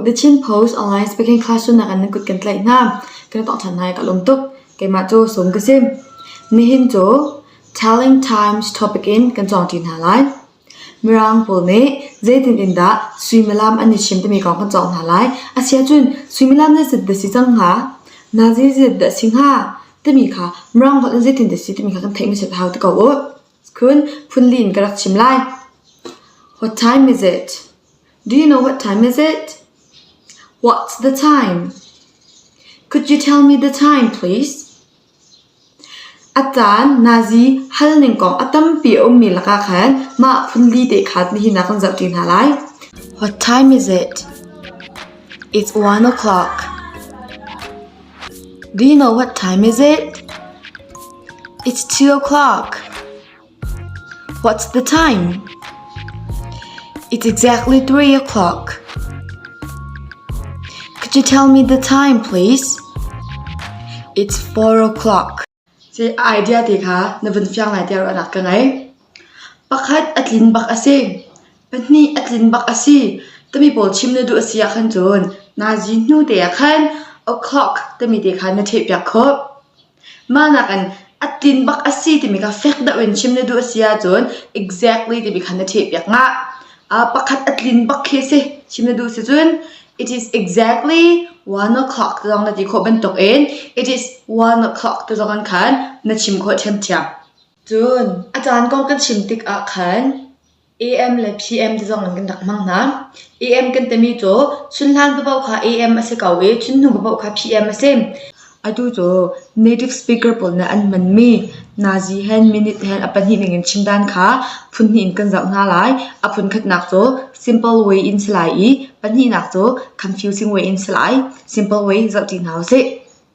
The Chin Post online speaking classroom nakin na kut kan tlaih hna. Kan tok ṭhan hai ka lum tuk. Keimah cu sum ka si. Nihin cu Telling Times topic in kan cawng ṭi hna lai. Mirang pawl nih zeitin in dah suimilam an i chim timi kong kan cawk hna lai. A si ahcun suimilam zeizat dah si cang hnga? Nazi zeizat dah si hnga? timi kha Mirang holh in zeitin dah si timi kha kan theih hmasat a hau ti ko u. Khun phunli in ka rak chim lai. What time is it? Do you know what time is it? What's the time? Could you tell me the time, please? A caan Nazi halning kong a tampi a ummi lakah khan mah phunli te kha nihin ah kan zohṭi hna lai. What time is it? It's one o'clock. Do you know what time is it? It's two o'clock. What's the time? It's exactly three o'clock. Could you tell me the time, please? It's four o'clock. Ci idea te kha na vun fiang lai te ruahnak ka ngei. Pakhat a tlin bak a si. Pahnih a tlin bak a si. Tami pawl chim na duh a si ah khan cun, na zin hnu te ah khan o'clock tami te khan na theih piak khawh. mah nakin a tin bak a si timi kha fek deuh in chim na duh a si ahcun exactly timi kha na ṭhehpiak ngah. Uh, pakhat a tlin bak khi si chim na duh si cun it is exactly one o'clock te zong na ti khawh bantukin it is one o'clock te zong an khan na chim khawh ṭhiamṭhiam. Cun a caan kong kan chim tikah khan AM le PM te zong in kan rak hmang hna. AM kan timi cu Chunhlan paoh kha AM a si ko i Chunhnu paoh kha PM a si. Atu cu native speaker pawl nih an hmanmi nazi hen minute hen a pahnih ning in chim dan kha phun hnih in kan zoh hna lai. A phun khatnak cu simple way in si lai i pahnihnak cu confusing way in si lai. Simple way zoh ṭi hna u sih.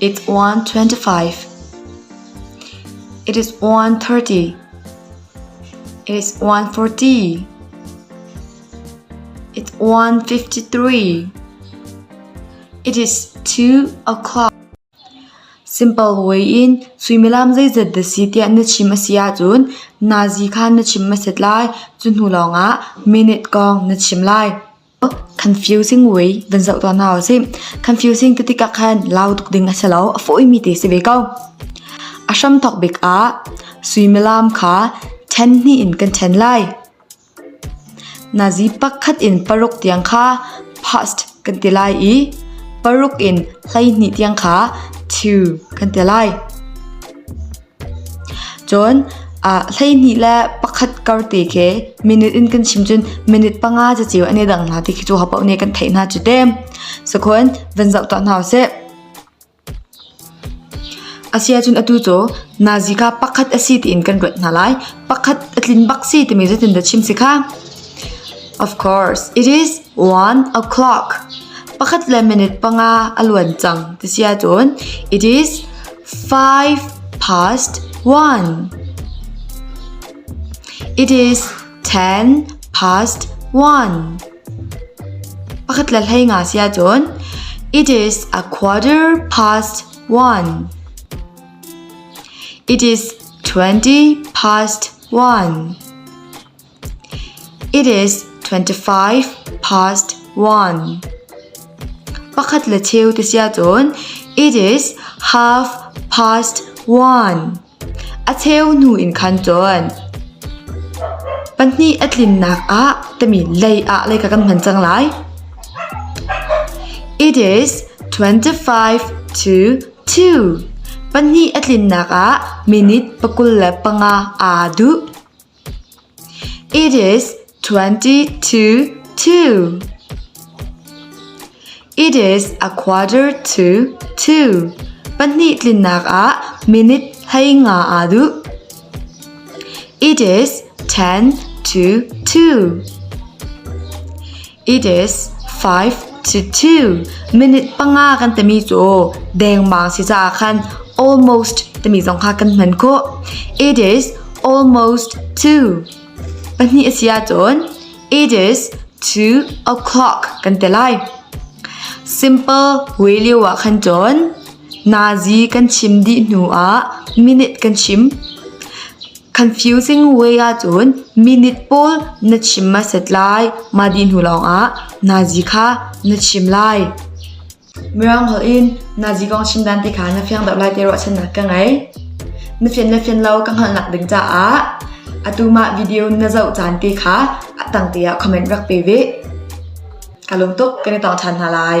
It is 1:30. It is 1:40. It's 1:53. It is 2 o'clock. Simple way in suimilam zeizat da si tiah na chim a si ahcun nazi kha na chim a set lai. Cu hnu lawngah minute kong na chim lai. Confusing way van zoh tuah na a si. Confusing ti tikah khan lau tuk ding a si lo, a fawimi te si ve ko. A hram thok bik ah suimilam kha then hnih in kan then lai. Nazi pakhat in paruk tiang kha past kan ti lai i paruk in hlei hnih tiang kha to kan ti lai. Cun hleihnih le pakhat kar te khi minute in kan chim cun minute panga caceu an i dang hna ti khi cu hapoh nih kan theih hna cu te. Sakhun van zoh tuah hna usih. Asiahcun atu cu nazika pakhat a si tiin kan ruat hna lai. Pakhat a tlin bak si timi cu tindah chim si kha? Of course, it is Wan a clock pakhat le minute panga a luan cang ti si ahcun it is five past one. It is ten past one. Pakhat le hlei nga si ahcun it is a quarter past one. It is twenty past one. It is twenty-five past one. Pakhat le cheu te si ahcun it is half past one. A cheu hnu in khan cun pahnih a tlinnak ah tami lei ah lei ka kan hman cang lai. It is twenty-five to two. Pahnih a tlinnak ah minute pakul le panga aa duh. It is a quarter to two. Pahnih tlinnak ah minute hlei nga aa duh. It is ten to two. It is five to two. Minute panga kan timi cu dengmang si caah khan almost timi zong kha kan hman khawh. It is almost two. Pahnih a si ahcun it is two o'clock kan ti lai. Simple way lio ah khan cun Nazi kan chim dih hnuah minute kan chim. Confusing way ahcun minute pawl na chim hmasat lai. Mah dih hnu lawngah Nazi kha na chim lai. Mirang holh in Nazi kong chim dan ti kha na fiang deuh lai ti ruahchannak ka ngei. Na fian le fian lo ka hngalhnak ding caah atu mah video na zoh caan te kha a tang te ah comment rak pe ve. Ka lung tuk kan i tong ṭhan hna lai.